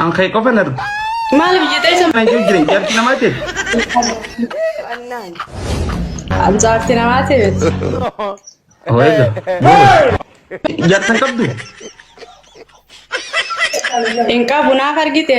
An kee qofan argu. Maaliif jetee isa Kan jiru jireenya jaartii namaa ta'e. jaartii namaa ta'e miti. Horeega. Jaartan qabdu. Hin qabu naaf argite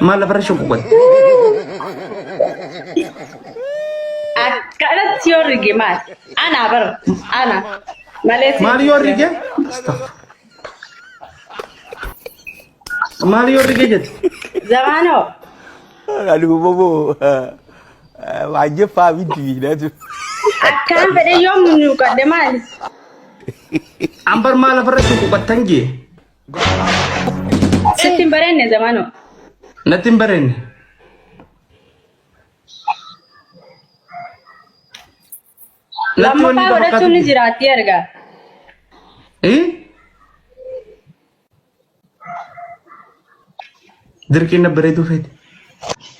Maal lafarra shunquqote? Akkanatti yoo rige maal? Ana bar ana malee si- Maal yoo rige? Astaghfir. Maal yoo rige jette? Zamaanoo Aduh, bobo. Wajib faham itu bila tu. akkaan fedhe yoo munyuuqadhe maali? An bar maal lafarra shunquqattan jee? Sitti hin bareenne zamanoo. Natti hin bareenne. Natti wanni Lammaffaa ifa godhachuun ni fakkaatu. jiraatti erga. Eh? Dirqiin na bareeduu feete.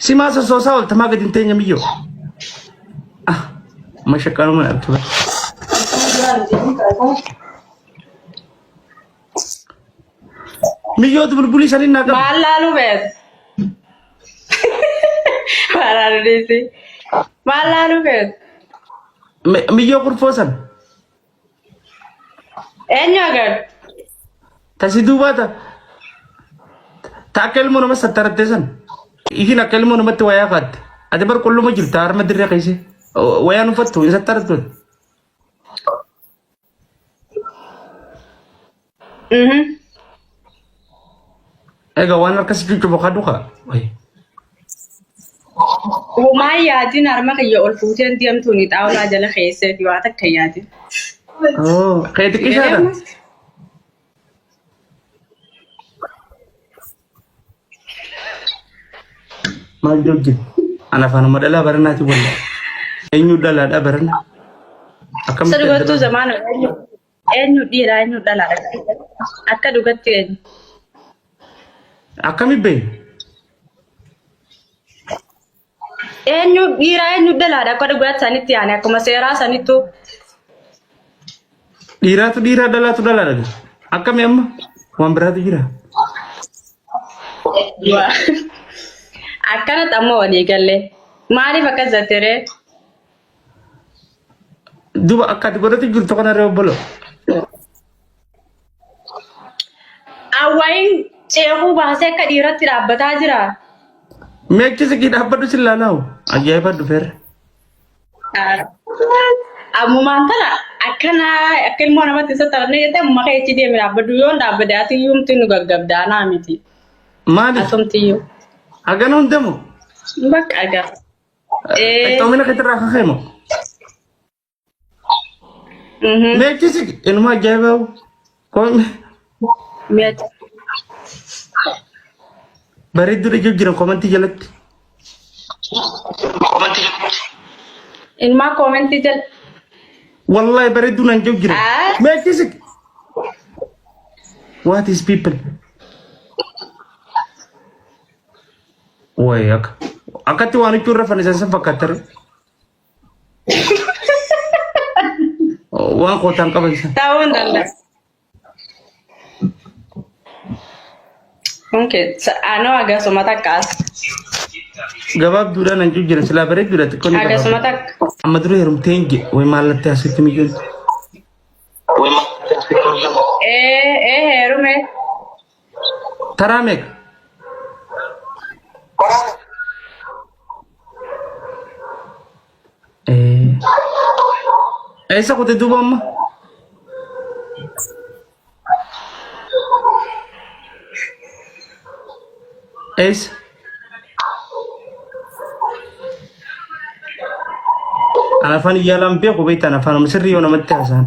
Si maa sossoosaa oolta maa gadi hin teenye miyyoo. Ah, mashaqaanuma na argite. Miyyoo bulbulii saniin naa qabu. Maal laalu beet? Maaraan dhiisi. Maal laalu beet? Mi- Miyyoo kurfoo san. Eenyu agartu? Tasi duubaa ta. Ta akka ilmoo nama sattarattee san. Isin akka ilmoo namatti wayaa kaatte. Ati bar qulluma jirta harma dirree keessa. Wayaan uffattu hin sattarattu. Egaa waan harka si cuccubu kadhu kaa. Homaa yaadin harma kiyya ol fuuteen deemtuun xaawulaa jala keesseeti waa takka yaadin. Kee xiqqishaadha. Maal jogge? An afaanuma dhalaa baranaati walla. Eenyu dhalaadha barana? Akkamitti Sirba adda tu baafna? zaman eenyu eenyu dhiira eenyu dhalaadha. Akka dhugatti eenyu. Akkami beekna? Eenyu dhiiraa eenyu dhalaadha akka dhugaatti sanitti yaane akkuma seeraa sanittu. Dhiiraatu dhiiraa dhalaatu dhalaadha. Akkami amma waan biraatu jira. Akkanatti amma walii galle. Maaliif akkas jettere? Duba akka ati godhatu jirtu kana irra obbolo. Awwaayin ceekuu baasee akka dhiiratti dhaabbataa jira. Meechi sikii dhaabbadhu sin laalaawu. Ajaa'iba dhufeerra. Ammumaan tana akkana akka ilmoo namatti isa taphannee jettee amma kee itti deemi dhaabbadhu yoo hin dhaabbade ati yuumti nu gaggabdaa naa miti. Maaliif? Asumti yuu. Hagana hundamu. Bakka agaa. Qixxoomina keetirraa akka ka'e moo? Meechisi inuma ajaa'ibaa kun bareedduu dhijuu jiran komantii jalatti. Ilmaa koomentii jala. Wallahi bareedduu naan jiru jiran. Ah. Meechisi. What is people? Wayi akka akkatti waan huccuu irra fannisan san fakkaattere. Waan kootaan qaban san. Ta'uu hin danda'u. Okay, anoo agasuma takkaas. Gabaabduudhaan hancuuf jiran silaa bareedduudha xiqqoo ni Agasuma gabaabdu. takka. Amma dura heerumtee hin jedhe wayi maallatti asitti mijoon. Ee, ee heerume. Taraa meeqa? Eh, Eessa kute duuba amma? Eessa? An afaan iyyaalaan beeku beektan afaan sirrii yoo namatti haasa'an.